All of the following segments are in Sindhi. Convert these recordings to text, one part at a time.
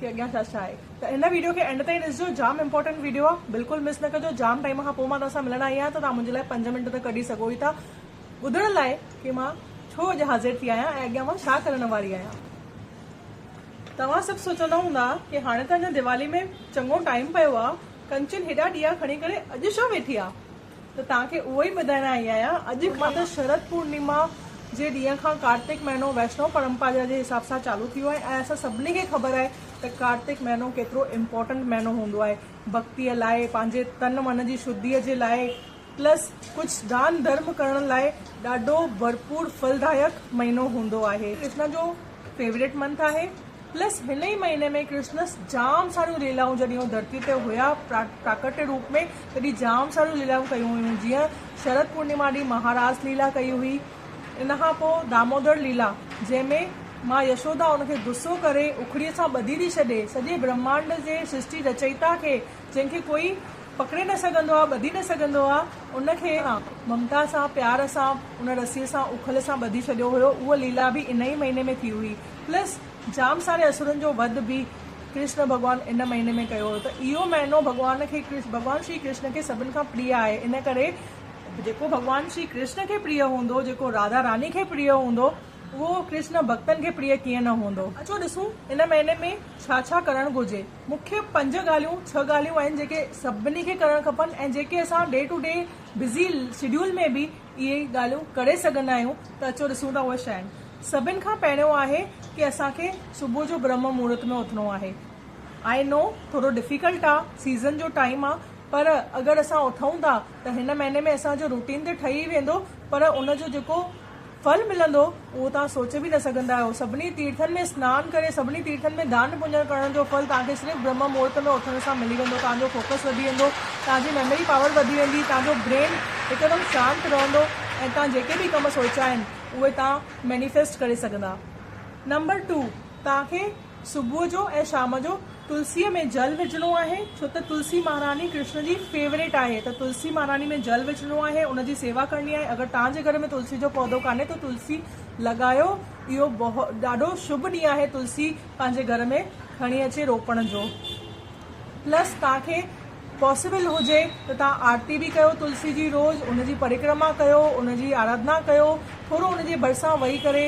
ڪي اڳيان ڇا ڇا آهي ته هن ويڊيو کي اينڊ تائين ڏسجو جام امپورٽنٽ ويڊيو آ بلڪل مس نه ڪجو جام ٽائيم کان پوء مان توهان سان ملڻ آئي آهيان ته توهان منهنجي لاء پنج منٽ ته ڪڍي سگهو ئي ٿا ٻڌڻ لاء ڪي مان ڇو اڄ حاضر ٿي آهيان ۽ اڳيان مان ڇا ڪرڻ واري آهيان توهان سڀ سوچندا هوندا ڪي هاڻي ته اڃا ديوالي ۾ چڱو ٽائيم پيو آ ڪنچن هيڏا ڏيئا کڻي ڪري اڄ ڇو ويٺي آ. ته توهان کي اهو ئي ٻڌائڻ آئي آهيان. اڄ کان ته شرد پورنيما جي ڏينهن کان ڪارتڪ مهينو ويشنو پرمپارا جي حساب سان چالو ٿيو آهي ۽ اسان سڀني کي خبر آهي ته ڪارتڪ مهينو ڪيترو امپورٽنٽ مهينو هوندو آهي ڀڳتيء لاء، پنهنجي تن من جي شڌيء جي لاء پلس ڪجهه دان ڌرم ڪرڻ لاء ڏاڍو ڀرپور ڦلدايڪ مهينو هوندو آهي. ڪرشنا جو فيوريٽ منٿ آهي. پلس هن ئي مهيني ۾ ڪرشنس جام ساريون ليلائون جڏهن هو ڌرتي تي هيا پراڪٽ روپ ۾ تڏهن جام ساريون ليلائون ڪيون هيون جيئن شرد پورنيما ڏينهن مها راس ليلا ڪئي هئي ان کان پوء دامودر ليلا جنهن ۾ ماء يشودا ان کي غصو ڪري اکڙي سان ٻڌي ٿي ڇڏي سڄي برهمانڊ جي سرشٽي رچئيتا کي جنهن کي ڪوئي پڪڙي نه سگهندو آهي ٻڌي نه سگهندو آهي ان کي ممتا سان پيار سان ان رسي سان اکل سان ٻڌي ڇڏيو هيو اها ليلا به ان ئي مهيني ۾ ٿي هئي. پلس جام ساري اسرن جو وڌ به ڪرشن ڀڳوان ان مهيني ۾ ڪيو هو ته اهو مهينو ڀڳوان کي ڀڳوان شري ڪرشن کي سڀن کان پريء آهي ان ڪري جيڪو ڀڳوان شري ڪرشن کي پريء هوندو جيڪو راڌا راني کي پريء هوندو اهو ڪرشن ڀڳتن کي پريء ڪيئن نه هوندو. اچو ڏسون ان مهيني ۾ ڇا ڇا ڪرڻ گهرجي. مکيه پنج ڳالهيون ڇهه ڳالهيون آهن جيڪي سڀني کي ڪرڻ کپن ۽ جيڪي اسان day to day busy schedule ۾ به اهي ڳالهيون ڪري سگهندا آهيون ته اچو ڏسون ٿا اهي شين سڀن کان پهريون آهي ڪي اسان کي صبح جو برهمه مهورت ۾ اٿڻو آهي آئي نو ٿورو ڊفيڪلٽ آ سيزن جو ٽائيم آ پر اگر اسان اٿون ٿا ته هن مهيني ۾ اسان جو روٽين ته ٺهي ويندو پر ان جو جيڪو ڦل ملندو اهو توهان سوچي به نه سگهندا آهيو. سڀني تيرٿن ۾ سنان ڪري، سڀني تيرٿن ۾ دان پونڄڻ ڪرڻ جو ڦل توهان کي صرف برهما مهورت ۾ اٿڻ سان ملي ويندو. توهان جو فوڪس وڌي ويندو، توهان جي ميموري پاور وڌي ويندي، توهان جو برين هڪدم شانت رهندو ۽ توهان جيڪي به ڪم سوچيا آهن اهي توهان مينيفيسٽ ڪري سگهندا. نمبر ٽو، توهان کي. صبح جو ۽ شام جو تلسيء ۾ جل وجهڻو آهي، ڇو ته تلسي مهاراڻي ڪرشن جي فيوريٽ آهي ته تلسي مهاراڻي ۾ جل وجهڻو آهي، ان جي سيوا ڪرڻي آهي، اگر توهان جي گهر ۾ تلسي جو پودو ڪانهي ته تلسي لڳايو، اهو ڏاڍو شڀ ڏينهن آهي تلسي پنهنجي گهر ۾ کڻي اچي روپڻ جو، پلس توهان کي پاسيبل هجي ته توهان آرتي به ڪيو تلسي جي روز ان جي پرڪرما ڪيو ان جي آراڌنا ڪيو ٿورو ان جي ڀرسان ويهي ڪري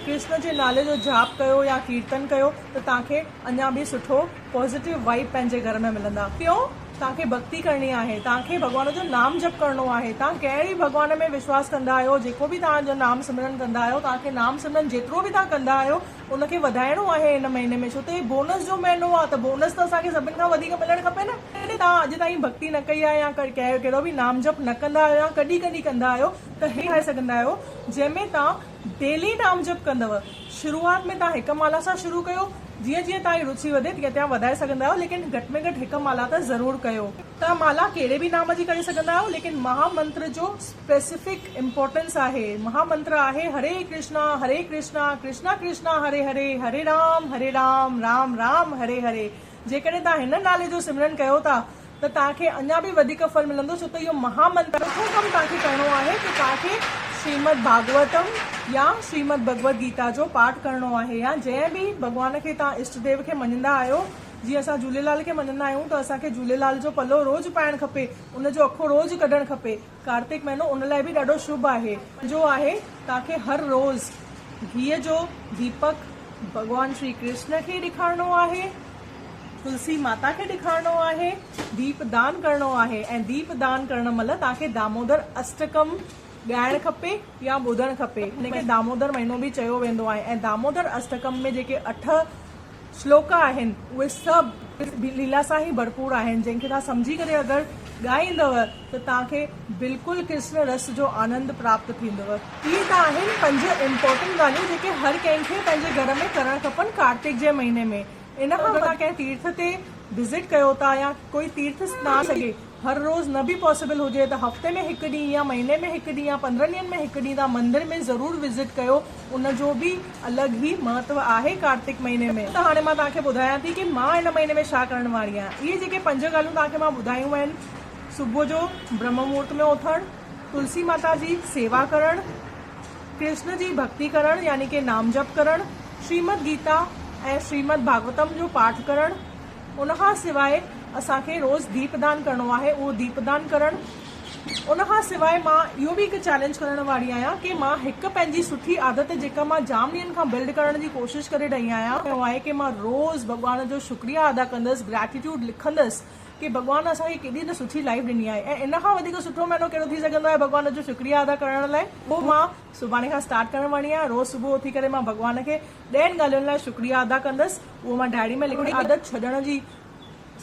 ڪرسن جي نالي جو جاپ ڪيو يا ڪيرتن ڪيو ته توهان کي اڃان به سٺو پازيٽو وائيب پنهنجي گهر ۾ ملندا ٽيون توهان کي ڀڳتي ڪرڻي آهي توهان کي ڀڳوان جو نام جپ ڪرڻو آهي توهان ڪنهن به ڀڳوان ۾ وشواس ڪندا آهيو جيڪو به توهان جو نام سمرن ڪندا آهيو توهان کي نام سمرن جيترو به توهان ڪندا آهيو ان کي وڌائڻو آهي هن مهيني ۾ ڇو ته هي بونس جو مهينو آهي ته بونس ته اسان کي سڀن کان وڌيڪ ملڻ کپي نه جيڪڏهن توهان اڄ تائين ڀڳتي نه ڪئي آهي يا ڪهڙو به نام جپ نه ڪندا آهيو يا ڪڏهن ڪڏهن ڪندا آهيو ته هي ٺاهي سگهندا آهيو جنهن ۾ توهان ڊيلي نام جپ ڪندو شروعات ۾ توهان هڪ مالا سان شروع ڪيو جيئن جيئن توهان جي روچي وڌي تيئن توهان وڌائي سگهندا آهيو ليڪن گهٽ ۾ گهٽ هڪ مالا ته ضرور ڪيو. توهان مالا ڪهڙي به نام جي ڪري سگهندا آهيو ليڪن مها منتر جو Specific Importance آهي مها منتر آهي هري ڪرشنا هري ڪرشنا ڪرشنا ڪرشنا هري هري هري رام هري رام رام رام هري هري جيڪڏهن توهان هن نالي جو سمرن ڪيو ٿا ته توهان کي اڃا به وڌيڪ ڦل ملندو ڇو ته اهو مها منتر چوٿون ڪم توهان کي ڪرڻو آهي ته توهان کي شريمد ڀاڳوتم يا شريمد ڀڳوت گيتا جو پاٺ ڪرڻو آهي يا جنهن به ڀڳوان کي توهان اشٽ ديو کي مڃيندا آهيو جيئن اسان جهوليلال کي مڃيندا آهيون ته اسان کي جهوليلال جو پلو روز پائڻ کپي ان جو اکو روز ڪڍڻ کپي. ڪارتڪ مهينو ان لاء به ڏاڍو شڀ آهي. جو آهي توهان کي هر روز گيهه جو ديپڪ ڀڳوان شري ڪرشن کي ڏيکارڻو آهي، تلسي ماتا کي ڏيکارڻو آهي، ديپ دان ڪرڻو آهي ۽ ديپ دان ڪرڻ مهل توهان کي دامودر اشٽڪم ڳائڻ کپي يا ٻڌڻ کپي. هن کي دامودر مهينو به چيو ويندو آهي ۽ دامودر اشٽڪم ۾ جيڪي اٺ شلوڪ آهن اهي سڀ ليلا سان ئي ڀرپور آهن جنهن کي توهان سمجهي ڪري اگر ڳائيندؤ ته توهان کي بلڪل ڪرشن رس جو آنند پراپت ٿيندؤ. اهي ته آهن پنج امپورٽنٽ ڳالهيون جيڪي هر ڪنهن کي پنهنجي گهر ۾ ڪرڻ کپن ڪارتڪ جي مهيني ۾ ان کان وڌيڪ توهان ڪنهن تيرٿ تي وزٽ ڪيو ٿا يا ڪوئي تيرٿ سنان ٿي سگهي هر روز نه به پاسيبل هجي ته هفتي ۾ هڪ ڏينهن يا مهيني ۾ هڪ ڏينهن يا پندرهن ڏينهن ۾ هڪ ڏينهن تان مندر ۾ ضرور وزٽ ڪيو ان جو به الڳ هي مهتو آهي ڪارتڪ مهيني ۾ ته هاڻي مان توهان کي ٻڌايان ٿي ڪي مان ان مهيني ۾ ڇا ڪرڻ واري آهيان اهي جيڪي پنج ڳالهيون توهان کي مان ٻڌايون آهن صبح جو برهما مهورت ۾ اٿڻ تلسي ماتا جي سيوا ڪرڻ ڪرشن جي ڀڳتي ڪرڻ يعني ڪي نام جپ ڪرڻ شريمد گيتا ۽ شريمد ڀاڳوتم جو پاٺ ڪرڻ ان کان سواء اسان کي روز ديپدان ڪرڻو آهي اهو ديپدان ڪرڻ ان کان سواء مان اهو به هڪ چئلينج ڪرڻ واري آهيان ڪي مان هڪ پنهنجي سٺي عادت جيڪا مان جام ڏينهن کان بلڊ ڪرڻ جي ڪوشش ڪري رهي آهيان اهو آهي ڪي مان روز ڀڳوان جو شڪريا ادا ڪندس گريٽيٽيوڊ لکندس ڪي ڀڳوان اسان کي ڪيڏي ته سٺي لائيف ڏني آهي ۽ ان کان وڌيڪ سٺو مهينو ڪهڙو ٿي سگهندو آهي ڀڳوان جو شڪريا ادا ڪرڻ لاء اهو مان سڀاڻي کان اسٽارٽ ڪرڻ واري آهيان روز صبح اٿي ڪري مان ڀڳوان کي ٻين ڳالهين لاء شڪريا ادا ڪندس اهو مان ڊائري ۾ لکڻ جي عادت ڇڏڻ جي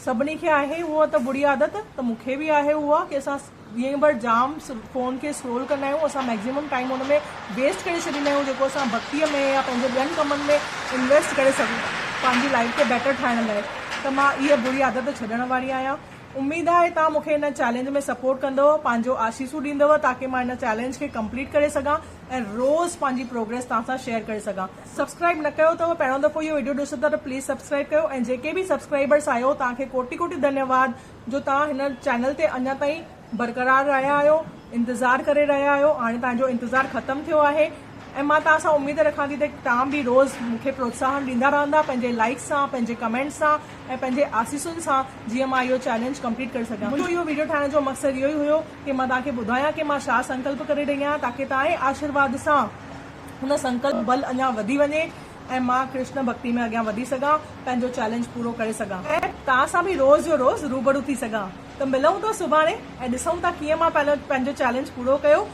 سڀني کي آهي اهو ته بري عادت ته مون کي به آهي اها ڪي اسان ڏينهن ڀر جام فون کي اسڪرول ڪندا آهيون اسان ميڪزيمم ٽائيم ان ۾ ويسٽ ڪري ڇڏيندا آهيون جيڪو اسان بھڪتي ۾ يا پنهنجي ٻين ڪمن ۾ انويسٽ ڪري سگهون ٿا پنهنجي لائيف کي بيٽر ٺاهڻ لاء ته مان اها بري عادت ڇڏڻ واري آهيان اميد آهي توهان مون کي هن چئلينج ۾ سپورٽ ڪندؤ پنهنجو آشيسون ڏيندؤ تاڪي مان هن چئلينج کي ڪمپليٽ ڪري سگهان ۽ روز پنهنجي پروگريس توهان سان شيئر ڪري سگهان. سبسڪرائب نه ڪيو اٿو پهريون دفعو اهو وڊيو ڏسو ٿا ته پليز سبسڪرائب ڪيو ۽ جيڪي به سبسڪرائبرس آهيو توهان کي ڪوٽي ڪوٽي ڌنيواد جو توهان هن چئنل تي اڃا تائين برقرار رهيا آهيو انتظار ڪري رهيا آهيو هاڻي توهان جو انتظار ختم ٿيو آهي. ۽ مان توهان سان اميد رکان ٿي ته توهان به روز مون کي پروتساهن ڏيندا رهندا پنهنجي لائڪس سان پنهنجي ڪمينٽس سان ۽ پنهنجي آسيسن سان جيئن مان اهو چئلينج ڪمپليٽ ڪري سگهان منهنجو اهو ويڊيو ٺاهڻ جو مقصد اهو ئي هيو ڪي مان توهان کي ٻڌايان ڪي مان ڇا سنڪلپ ڪري رهي آهيان تاڪي توهانجي آشيرواد سان ان سنڪلپ جو بل اڃان وڌي وڃي ۽ مان ڪرشن ڀڳتي ۾ اڳيان وڌي سگهان پنهنجو چئلينج پورو ڪري سگهان ۽ توهان سان به روز جو روز روبرو ٿي سگهان ته ملون ٿا سڀاڻي ۽ ڏسون ٿا ڪيئن مان پنهنجو چئلينج پورو ڪيو.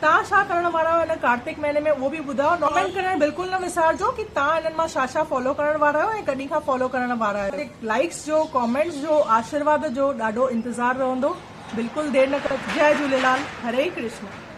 تان ڇا ڪرڻ وارا آهيو ان ڪارتڪ مهيني ۾ اهو به ٻڌايو ڪمينٽ ڪرڻ بلڪل نه وسارجو ڪي تان انهن مان ڇا ڇا فالو ڪرڻ وارا آهيو ۽ ڪڏهن کان فالو ڪرڻ وارا آهيو لائيڪس جو ڪمينٽس جو آشرواد جو ڏاڍو انتظار رهندو بلڪل دير نه ڪجو جئي جهوليلال هري ڪرشنا.